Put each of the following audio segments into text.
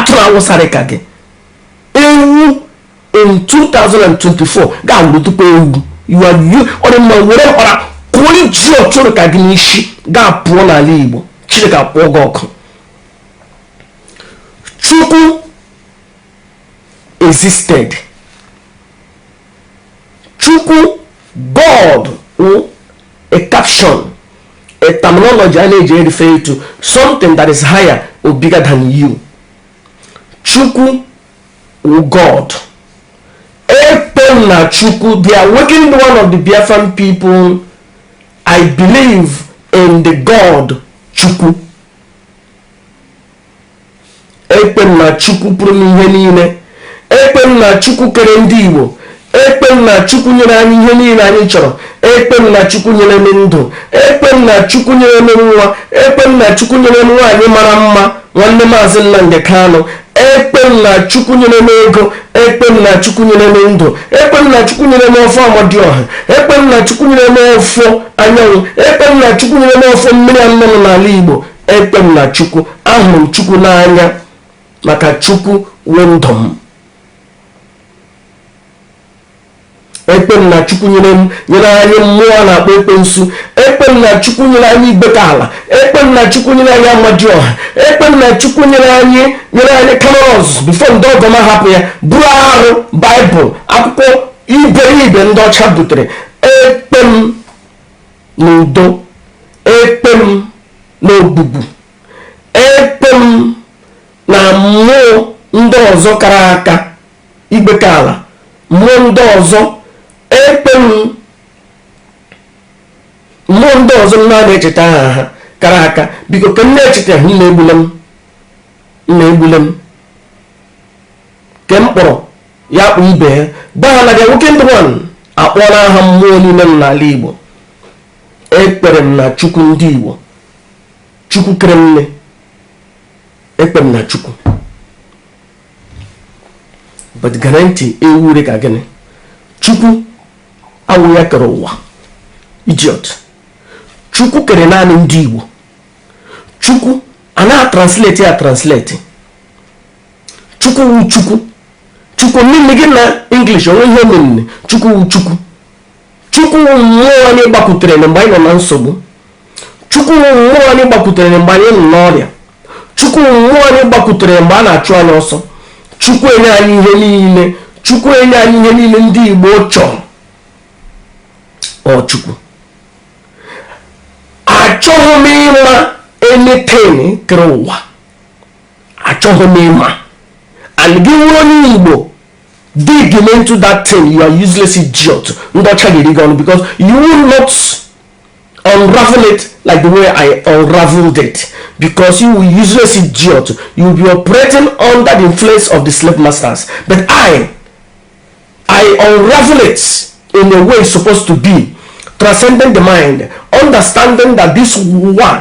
atụrụ awụsa rị ka gị ewu in 2024 ga-awụrụ tupu ewu ọdị mma were mkpara kụọ idiot rị ka gị n'isi gị apụọ n'ala igbo chineke kpọọ gị ọkụ chukwu existed chukwu god a caption a terminology a na-eji erife to something that is higher or bigger than you chukwu god ekpem na chukwu they are working the one of the biafran people i believe in the god chukwu ekwe m na chukwu pụrụ ime ihe niile ekwe m na chukwu kere ndị igbo ekwe m na chukwu nyere anyị ihe niile anyị chọrọ ekwe m na chukwu nyere m ndụ ekwe m na chukwu nyere m nwa ekwe m na chukwu nyere m nwaanyị mara mma nwanne maazị nnamdị kanụ ekwe m na chukwu nyere m ego ekwe m na chukwu nyere m ndụ ekwe m na chukwu nyere m ọfọ amadioha ekwe m na chukwu nyere m ọfọ anyanwụ ekwe m na chukwu nyere m ọfọ mmiri anọ nọ n'ala igbo ekwe m na chukwu ahụrụ m chukwu n'anya maka chukwu wụ ndụ m ekwe m na chukwu nyere m nyere anyị mmụọ a na-akpọ ekwensu ekwe m na chukwu nyere anyị igwekala ekwe m na chukwu nyere anyị amadioha ekwe m na chukwu nyere anyị nyere anyị kamalu ozuzu before ndị ọgọ m ahapụ ya buru arụ bible akwụkwọ iberibe ndị ọcha butere ekwe m n'udo ekwe m n'ogwugwu ekwe m na mmụọ ndị ọzọ kara aka igwekala mmụọ ndị ọzọ ekwe m mmụọ ndị ọzọ m na-echeta aha ha kara aka because ke m na-echetahụ na egbule m na egbule m ke m kpọrọ ya kpọọ ibe ya gwa ha na the wicked one akpọrọ aha mmụọ niile nọ n'ala igbo ekwere m na chukwu ndị igbo chukwu kere nne ekwe m na chukwu but garanti ewu rị ka gị na chukwu awụ ya kere ụwa idiot chukwu kere naanị ndị igbo chukwu a na-atranslate ya translate chukwu wu chukwu chukwu meaning ya na english o nwe ihe ọ mean chukwu wu chukwu chukwu wu mmụọ anyị gbakwutere na mgbe anyị nọ na nsogbu chukwu wu mmụọ anyị gbakwutere na mgbe anyị nọ n'ọrịa chukwu wu mmụọ anyị gbakwutere mgbe a na-achụ anyị ọsọ chukwu enye anyị ihe niile chukwu enye anyị ihe niile ndị igbo chọrọ ọ chukwu achọghị m ịma anything kere ụwa achọghị m ịma and gị nwụrụ onye igbo dig into that thing you are useless idiot ndị ọcha ga-eri gị ọnụ because you will not unravel it like the way I unraveled it because you will useless idiot you will be operating under the influence of the slave masters but I I unravel it in a way it's supposed to be transcending the mind understanding that this one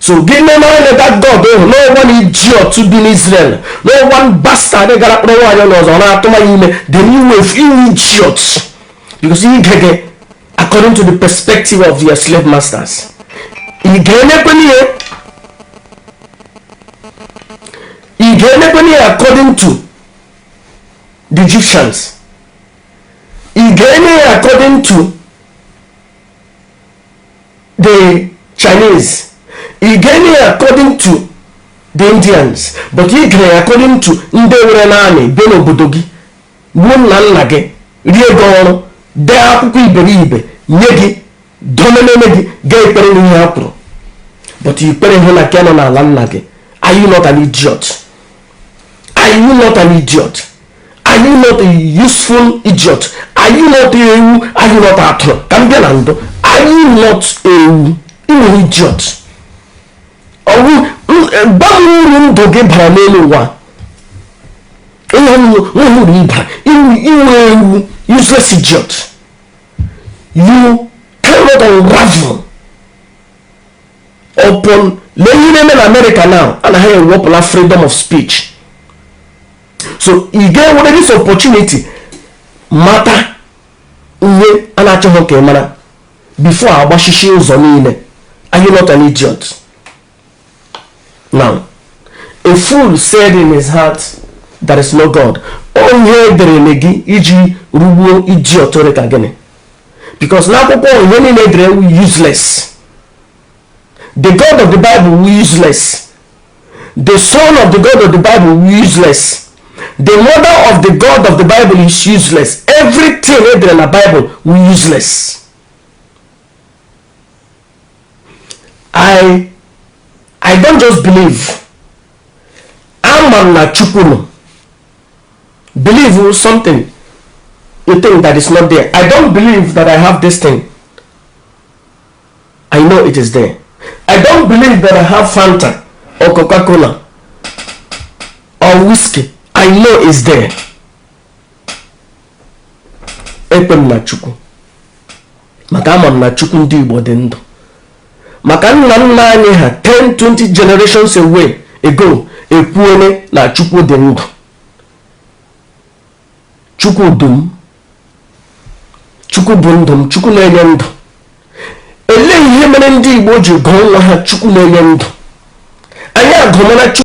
So gị nene anya that God ịhụ na ọ wụ an idiot bi n'Israel na ọ wụ bastard gara kpọrọ nwaanyị onye ọzọ na-atụma ya ime then ị wụ ewu ị wụ idiot because ị ga-ege according to the perspective of your slave masters ị ga-emekwe n'ihe ị ga-emekwe n'ihe according to the Egyptians ị ga-eme ya according to the Chinese, ị ga-eme according to the Indians, but ị ga-ege according to ndị nwere naanị bịa n'obodo gị gbuo nna nna gị ree gị oru dee akwụkwọ iberibe nye gị domeneme gị ga-ekwere n'ihe ha kwuru but i kwereghị na nke nọ n'ala nna gị are you not an idiot? are you not an idiot are you not a useful idiot are you not ewu are you not atụrụ ka m bịa na ndụ are you not ewu ị wụ idiot ọ wụ gbanwe uru ndụ gị bara n'elu ụwa ihe nwere uru ị bara ị wụ ewu useless idiot you cannot unravel upon lee ihe na-eme na america now a na ha ewepụla freedom of speech so ị ga-ewere this opportunity mata ihe a na-achọghị ka ị mara before agbachishie ụzọ niile are you not an idiot now a fool said in his heart there is no god ọ ihe e dere gị iji rugbuo idiot dị ka gị because n'akwụkwọ ihe niile e dere wụ useless the god of the bible wụ useless the son of the god of the bible wụ useless the mother of the god of the bible is useless everything e dere na bible wụ useless i i don't just believe ama m na chukwu nọ believe something you think that is not there i don't believe that i have this thing i know it is there i don't believe that i have fanta or coca-cola or whiskey i know is there ekpem na chukwu maka ama m na chukwu ndị igbo dị ndụ maka nna nna anyị ha 10 20 generations away ago ekwuole na chukwu dị ndụ chukwu dum chukwu bụ ndụ m chukwu na-enye ndụ elee ihe mere ndị igbo ji gụọ nwa ha chukwu na-enye ndụ anyị agụmara chukwu